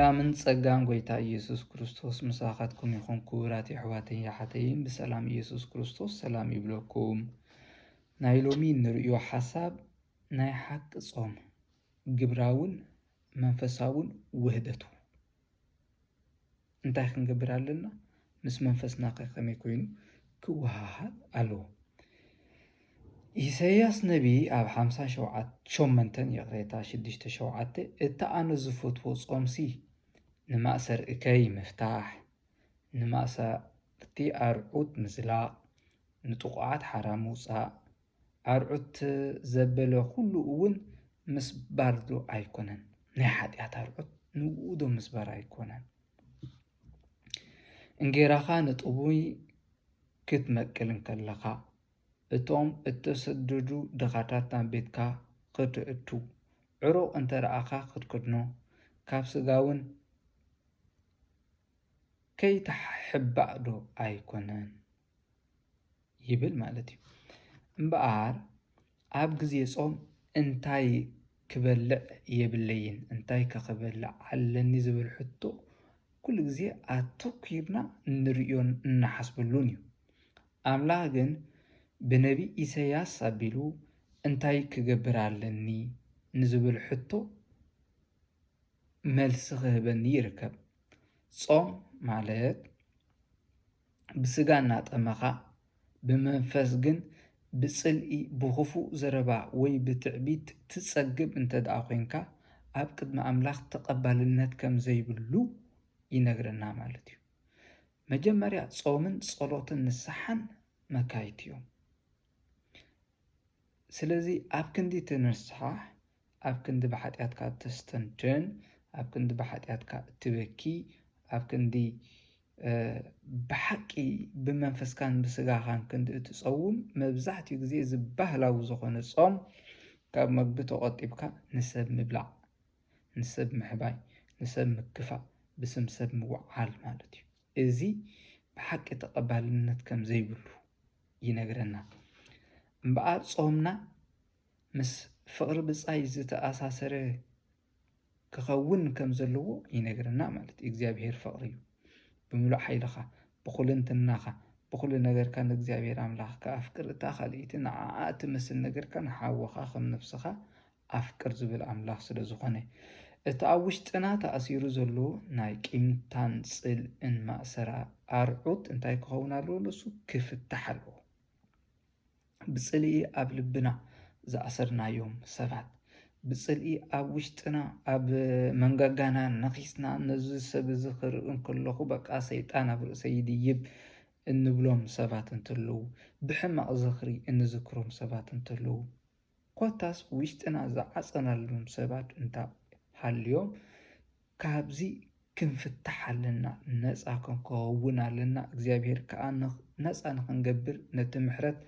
ሰላምን ጸጋን ጎይታ ኢየሱስ ክርስቶስ ምሳኻትኩም ይኹን ክቡራት የሕዋተይን የሓተይን ብሰላም ኢየሱስ ክርስቶስ ሰላም ይብለኩም። ናይ ሎሚ ንርእዮ ሓሳብ ናይ ሓቂ ጾም ግብራውን መንፈሳውን ውህደቱ እንታይ ክንገብር ኣለና? ምስ መንፈስናኸ ከመይ ኮይኑ ክወሃሃድ ኣለዎ? ኢሳይያስ ነብዪ ኣብ ሓምሳ ሸውዓተ ሸሞንተን ይቕሬታ ሽዱሽተ ሸውዓተ እቲ ኣነ ዝፈትዎ ጾምሲ ንማእሰር እከይ ምፍታሕ፣ ንማእሰርቲ ኣርዑት ምዝላቕ፣ ንጥቑዓት ሓራ ምውጻእ፣ ኣርዑት ዘበለ ዅሉ እውን ምስባርዶ ኣይኰነን? ናይ ሓጢኣት ኣርዑት ንእኡዶ ምስባር ኣይኰነን? እንጌራኻ ንጥሙይ ክትመቅል እንከለኻ፣ እቶም እተሰደዱ ድኻታት ናብ ቤትካ ኸተእቱ፣ ዕሩቕ እንተ ረኣኻ ኽትከድኖ፣ ካብ ስጋውን ከይተሓባእዶ ኣይኰነን? ይብል ማለት እዩ እምበኣር ኣብ ግዜ ጾም እንታይ ክበልዕ የብለይን እንታይ ከ ክበልዕ ኣለኒ ዝብል ሕቶ ኩሉ ግዜ ኣተኲርና እንርእዮን እንሓስበሉን እዩ። ኣምላኽ ግን ብነቢ ኢሳይያስ ኣቢሉ እንታይ ክገብር ኣለኒ ንዝብል ሕቶ መልሲ ክህበኒ ይርከብ። ጾም ማለት ብስጋ እናጠመኻ፣ ብመንፈስ ግን ብጽልኢ፣ ብኽፉእ ዘረባ ወይ ብትዕቢት ትጸግብ እንተ ደኣ ዄንካ፣ ኣብ ቅድሚ ኣምላኽ ተቐባልነት ከም ዘይብሉ ይነግረና ማለት እዩ። መጀመርያ ጾምን ጸሎትን ንስሓን መካይት እዮም። ስለዚ ኣብ ክንዲ እቲ ንስሓ ኣብ ክንዲ ብሓጢኣትካ እተስተንትን ኣብ ክንዲ ብሓጢኣትካ እትበኪ ኣብ ክንዲ ብሓቂ ብመንፈስካን ብስጋኻን ክንዲ እትጸውም መብዛሕትኡ ግዜ እዚ ባህላዊ ዝኾነ ጾም ካብ መግቢ ተቖጢብካ ንሰብ ምብላዕ ንሰብ ምሕባይ ንሰብ ምክፋእ ብስም ሰብ ምውዓል ማለት እዩ እዚ ብሓቂ ተቐባልነት ከም ዘይብሉ ይነግረና እምበኣር ጾምና ምስ ፍቕሪ ብጻይ ዝተኣሳሰረ ክኸውን ከም ዘለዎ ይነግረና ማለት እዩ። እግዚኣብሄር ፍቕሪ እዩ። ብምሉእ ሓይልኻ፣ ብኹልንትናኻ፣ ብኹሉ ነገርካ ንእግዚኣብሄር ኣምላኽካ ኣፍቅር፣ እታ ካልኣይቲ ንዓኣ እትመስል ነገርካ ንሓውኻ ከም ነፍስኻ ኣፍቅር ዝብል ኣምላኽ ስለ ዝኾነ። እቲ ኣብ ውሽጥና ተኣሲሩ ዘሎ ናይ ቂምታን ጽልእን ማእሰራ ኣርዑት እንታይ ክኸውን ኣለዎ ንሱ? ክፍታሕ ኣለዎ። ብጽልኢ ኣብ ልብና ዝኣሰርናዮም ሰባት ብጽልኢ ኣብ ውሽጥና ኣብ መንጋጋና ነኺስና ነዚ ሰብ እዚ ክርኢ እንከለኹ በቃ ሰይጣን ኣብ ርእሰይ ይድይብ እንብሎም ሰባት እንተለዉ ብሕማቕ ዝኽሪ እንዝክሮም ሰባት እንተለዉ ኮታስ ውሽጥና ዝዓጸናሎም ሰባት እንተ ሃልዮም ካብዚ ክንፍታሕ ኣለና ነጻ ክንከውን ኣለና እግዚኣብሔር ከኣ ነጻ ንክንገብር ነቲ ምሕረት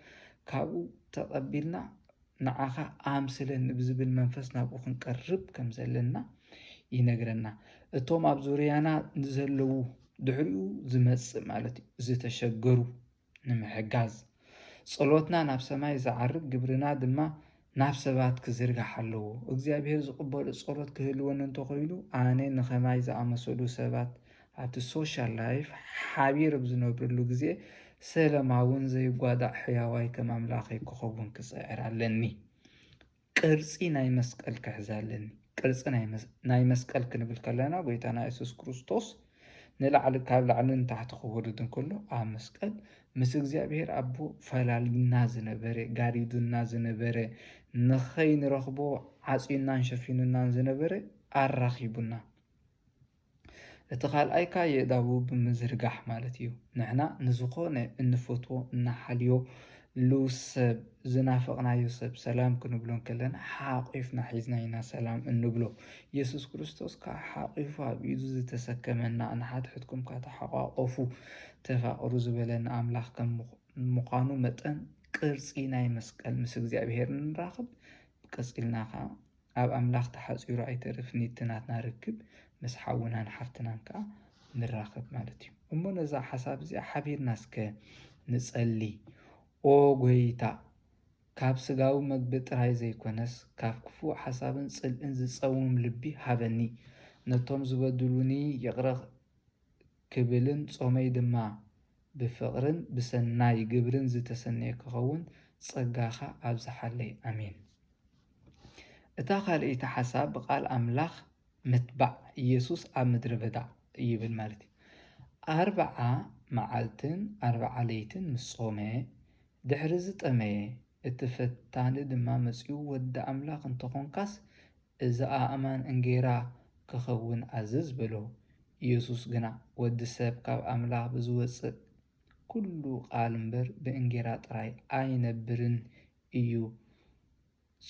ካብኡ ተቀቢልና ንዓካ ኣምስለኒ ብዝብል መንፈስ ናብኡ ክንቀርብ ከም ዘለና ይነግረና እቶም ኣብ ዙርያና ንዘለዉ ድሕሪኡ ዝመጽእ ማለት እዩ ዝተሸገሩ ንምሕጋዝ፣ ጸሎትና ናብ ሰማይ ዝዓርግ፣ ግብርና ድማ ናብ ሰባት ክዝርጋሕ ኣለዎ። እግዚኣብሄር ዝቕበሎ ጸሎት ክህልወኒ እንተኾይኑ፣ ኣነ ንኸማይ ዝኣመሰሉ ሰባት ኣብቲ ሶሻል ላይፍ ሓቢር ኣብ ዝነብረሉ ግዜ ሰለማውን ዘይጓዳእ ሕያዋይ ከም ኣምላኸይ ክኸውን ክጽዕር ኣለኒ። ቅርጺ ናይ መስቀል ክሕዛ ኣለኒ። ቅርጺ ናይ መስቀል ክንብል ከለና ጎይታና የሱስ ክርስቶስ ንላዕሊ ካብ ላዕሊ ንታሕቲ ክወርድ እንከሎ ኣብ መስቀል ምስ እግዚኣብሔር ኣቦ ፈላልዩና ዝነበረ ጋሪዱና ዝነበረ ንኸይንረኽቦ ዓጽዩናን ሸፊኑናን ዝነበረ ኣራኺቡና። እቲ ካልኣይ ከኣ የእዳዉ ብምዝርጋሕ ማለት እዩ። ንሕና ንዝኾነ እንፈትዎ እንሓልዮ ሉ ሰብ ዝናፈቅናዮ ሰብ ሰላም ክንብሎ እንከለና ሓቊፍና ሒዝና ኢና ሰላም እንብሎ። የሱስ ክርስቶስ ከኣ ሓቊፉ ኣብ ኢዱ ዝተሰከመና ንሓድሕድኩም ከኣ ተሓቛቖፉ ተፋቐሩ ዝበለና ኣምላኽ ከም ምዃኑ መጠን ቅርጺ ናይ መስቀል ምስ እግዚኣብሄር ንራኸብ ቀጺልና ከኣ ኣብ ኣምላኽ ተሓጺሩ ኣይተርፍን ኢዩ እቲ ናትና ርክብ ምስ ሓውናን ሓፍትናን ከኣ ንራኸብ ማለት ኢዩ እሞ ነዛ ሓሳብ እዚኣ ሓቢርና እስከ ንጸሊ ኦ ጎይታ ካብ ስጋዊ መግቢ ጥራይ ዘይኮነስ ካብ ክፉእ ሓሳብን ጽልእን ዝጸውም ልቢ ሃበኒ ነቶም ዝበድሉኒ ይቕረ ክብልን ጾመይ ድማ ብፍቕርን ብሰናይ ግብርን ዝተሰነየ ክኸውን ጸጋኻ ኣብዝሓለይ። ኣሜን። እታ ካልኣይቲ ሓሳብ ብቃል ኣምላኽ ምትባዕ ኢየሱስ ኣብ ምድረ በዳ ይብል ማለት እዩ። ኣርብዓ መዓልትን ኣርብዓ ለይትን ምስ ጾመ ድሕሪ ዝጠመየ እቲ ፈታኒ ድማ መጺኡ ወዲ ኣምላኽ እንተኾንካስ እዚ ኣእማን እንጌራ ኪኸውን ኣዝዝ በሎ። ኢየሱስ ግና፣ ወዲ ሰብ ካብ ኣምላኽ ብዚወጽእ ኵሉ ቓል እምበር፣ ብእንጌራ ጥራይ ኣይነብርን እዩ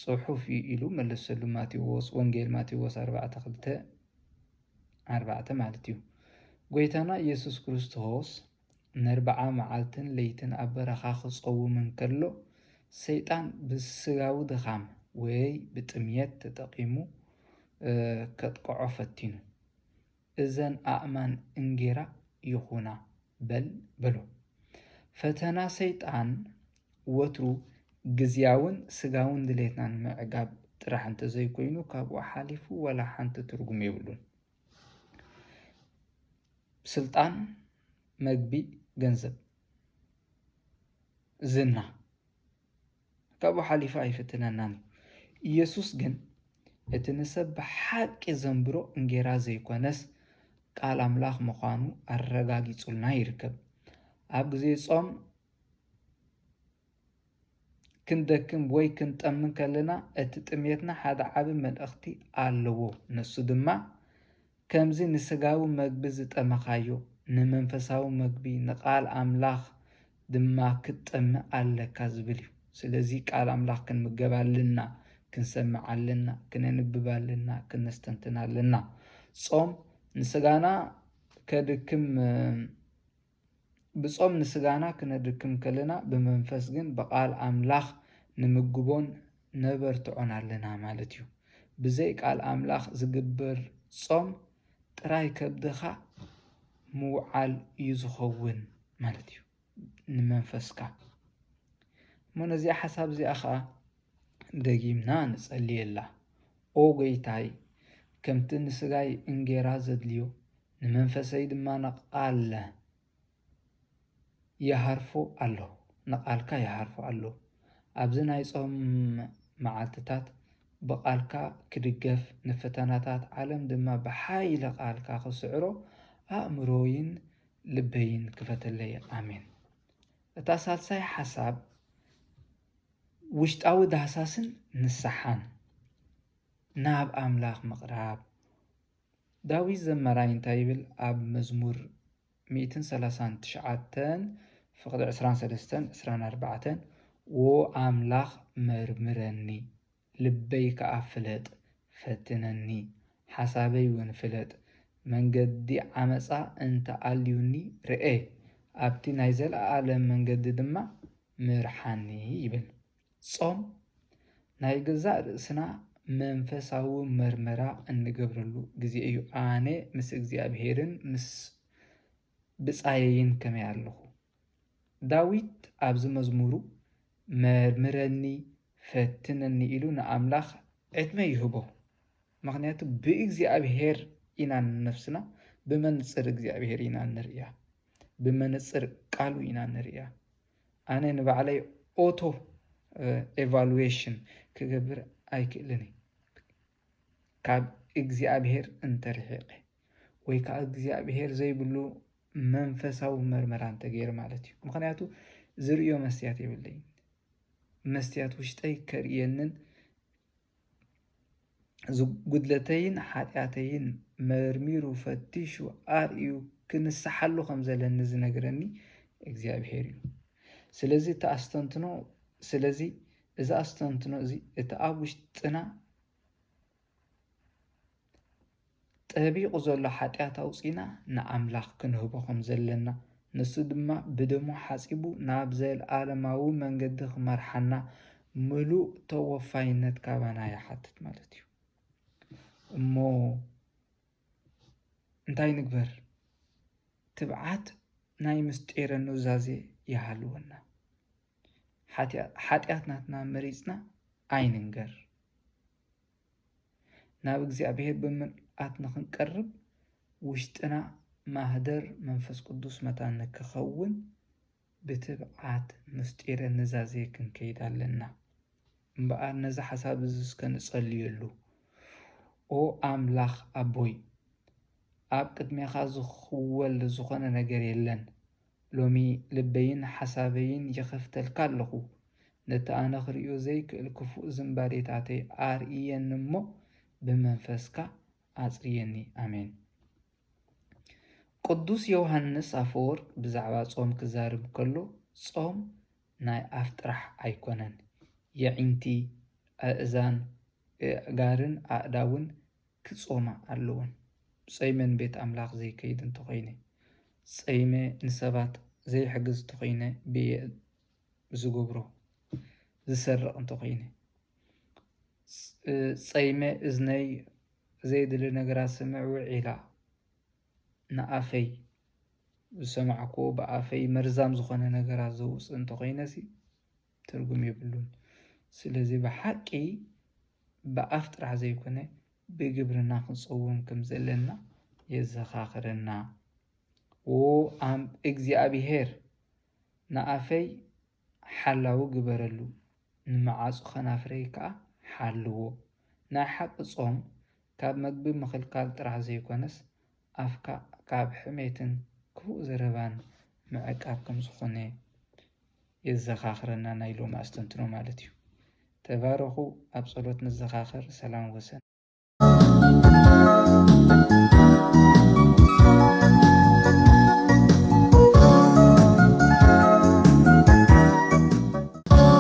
ጽሑፍ እዩ ኢሉ መለሰሉ። ማቴዎስ፣ ወንጌል ማቴዎስ ኣርባዕተ ክልተ ኣርባዕተ ማለት እዩ። ጐይታና ኢየሱስ ክርስቶስ፣ ነርብዓ መዓልትን ለይትን ኣብ በረኻ ኺጸውም እንከሎ፣ ሰይጣን ብስጋዊ ድኻም ወይ ብጥምየት ተጠቒሙ ኬጥቅዖ ፈቲኑ። እዘን ኣእማን እንጌራ ይኹና በል በሎ። ፈተና ሰይጣን ወትሩ ግዝያውን ስጋውን ድሌትና ንምዕጋብ ጥራሕ እንተ ዘይኰይኑ፣ ካብኡ ሓሊፉ ዋላ ሓንቲ ትርጕም የብሉን። ስልጣን፣ መግቢ፣ ገንዘብ፣ ዝና ካብኡ ሓሊፉ ኣይፍትነናን እዩ። ኢየሱስ ግን እቲ ንሰብ ብሓቂ ዘንብሮ እንጌራ ዘይኮነስ ቃል ኣምላኽ ምዃኑ ኣረጋጊጹልና ይርከብ። ኣብ ግዜ ጾም ክንደክም ወይ ክንጠምን ከለና እቲ ጥሜትና ሓደ ዓቢ መልእኽቲ ኣለዎ። ንሱ ድማ ከምዚ ንስጋዊ መግቢ ዝጠመኻዮ ንመንፈሳዊ መግቢ ንቃል ኣምላኽ ድማ ክትጠምእ ኣለካ ዝብል እዩ። ስለዚ ቃል ኣምላኽ ክንምገብ ኣለና፣ ክንሰምዕ ኣለና፣ ክነንብብ ኣለና፣ ክነስተንትን ኣለና። ጾም ንስጋና ከድክም ብጾም ንስጋና ክነድክም ከለና ብመንፈስ ግን ብቃል ኣምላኽ ንምግቦን ነበርትዖን ኣለና ማለት እዩ። ብዘይ ቃል ኣምላኽ ዝግበር ጾም ጥራይ ከብድኻ ምውዓል እዩ ዝኸውን ማለት እዩ ንመንፈስካ። እሞ ነዚኣ ሓሳብ እዚኣ ኸኣ ደጊምና ንጸልየላ። ኦ ጎይታይ ከምቲ ንስጋይ እንጌራ ዘድልዮ ንመንፈሰይ ድማ ንቓል ይሃርፎ ኣሎ ንቓልካ ይሃርፎ ኣሎ ኣብዚ ናይ ጾም መዓልትታት ብቓልካ ክድገፍ ንፈተናታት ዓለም ድማ ብሓይሊ ቓልካ ክስዕሮ ኣእምሮይን ልበይን ክፈተለይ ኣሜን። እታ ሳልሳይ ሓሳብ ውሽጣዊ ዳህሳስን ንስሓን ናብ ኣምላኽ ምቕራብ ዳዊት ዘማራይ እንታይ ይብል ኣብ መዝሙር ሚእትን ሰላሳን ትሽዓተን ፍቅዲ ዕስራን ሰለስተን ዕስራን ኣርባዕተን ዎ ኣምላኽ መርምረኒ ልበይ ከኣ ፍለጥ ፈትነኒ ሓሳበይ ውን ፍለጥ መንገዲ ዓመጻ እንተ ኣልዩኒ ርኤ ኣብቲ ናይ ዘለኣለም መንገዲ ድማ ምርሓኒ ይብል ጾም ናይ ገዛእ ርእስና መንፈሳዊ መርመራ እንገብረሉ ግዜ እዩ። ኣነ ምስ እግዚኣብሄርን ምስ ብጻየይን ከመይ ኣለኹ? ዳዊት ኣብዚ መዝሙሩ መርምረኒ ፈትነኒ ኢሉ ንኣምላኽ ዕድመ ይህቦ። ምኽንያቱ ብእግዚኣብሄር ኢና ንነፍስና ብመንጽር እግዚኣብሄር ኢና እንርእያ። ብመንጽር ቃሉ ኢና እንርእያ። ኣነ ንባዕለይ ኦቶ ኤቫሉዌሽን ክገብር ኣይክእልን እየ ካብ እግዚኣብሄር እንተርሒቐ ወይ ከዓ እግዚኣብሄር ዘይብሉ መንፈሳዊ መርመራ እንተገይረ ማለት እዩ። ምክንያቱ ዝርእዮ መስትያት የብለይን። መስትያት ውሽጠይ ከርእየንን እዚ ጉድለተይን ሓጢኣተይን መርሚሩ ፈቲሹ ኣርእዩ ክንስሓሉ ከም ዘለኒ ዝነግረኒ እግዚኣብሄር እዩ። ስለዚ እቲ ኣስተንትኖ ስለዚ እዚ ኣስተንትኖ እዚ እቲ ኣብ ውሽጥና ጠቢቑ ዘሎ ሓጢኣት ኣውጺእና ንኣምላኽ ክንህቦ ኸም ዘለና፣ ንሱ ድማ ብደሙ ሓጺቡ ናብ ዘለኣለማዊ መንገዲ ኽመርሓና ምሉእ ተወፋይነት ካባና ይሓትት ማለት እዩ። እሞ እንታይ ንግበር? ትብዓት ናይ ምስጢረ ኑዛዜ ይሃልወና። ሓጢኣት ናትና መሪጽና ኣይንንገር። ናብ እግዚኣብሔር ብምልኣት ንኽንቀርብ ውሽጥና ማህደር መንፈስ ቅዱስ መታን ንክኸውን ብትብዓት ምስጢረ ንዛዜ ክንከይድ ኣለና። እምበኣር ነዚ ሓሳብ እዚ እስከ ንጸልየሉ። ኦ ኣምላኽ ኣቦይ ኣብ ቅድሜኻ ዝኽወል ዝኾነ ነገር የለን። ሎሚ ልበይን ሓሳበይን ይኸፍተልካ ኣለኹ። ነቲ ኣነ ክርእዮ ዘይክእል ክፉእ ዝንባሌታተይ ኣርእየኒ እሞ ብመንፈስካ ኣጽርየኒ። ኣሜን። ቅዱስ ዮውሃንስ ኣፈወርቅ ብዛዕባ ጾም ክዛርብ ከሎ ጾም ናይ ኣፍ ጥራሕ ኣይኮነን፣ የዒንቲ፣ ኣእዛን፣ እእእጋርን ኣእዳውን ክጾማ ኣለወን ጸይመን ቤት ኣምላኽ ዘይከይድ እንተኾይነ ጸይመ ንሰባት ዘይሕግዝ እንተኾይነ ብየ ዝገብሮ ዝሰርቕ እንተኾይነ ጸይመ እዝነይ ዘይድሊ ነገራት ስምዕ ውዒላ ንኣፈይ ዝሰማዕክዎ ብኣፈይ መርዛም ዝኾነ ነገራት ዘውጽእ እንተኾይነሲ ትርጉም የብሉን ስለዚ ብሓቂ ብኣፍ ጥራሕ ዘይኮነ ብግብርና ክንጸውም ከም ዘለና የዘኻኽረና እግዚኣብሄር ንኣፈይ ሓላዊ ግበረሉ ንመዓጹ ከናፍረይ ከኣ ሓልዎ ናይ ሓቂ ጾም ካብ መግቢ ምኽልካል ጥራሕ ዘይኮነስ ኣፍካ ካብ ሕሜትን ክፉእ ዘረባን ምዕቃብ ከም ዝኾነ የዘኻኽረና ናይ ሎሚ ኣስተንትኖ ማለት እዩ። ተባረኹ ኣብ ጸሎት ንዘኻኸር ሰላም ወሰን።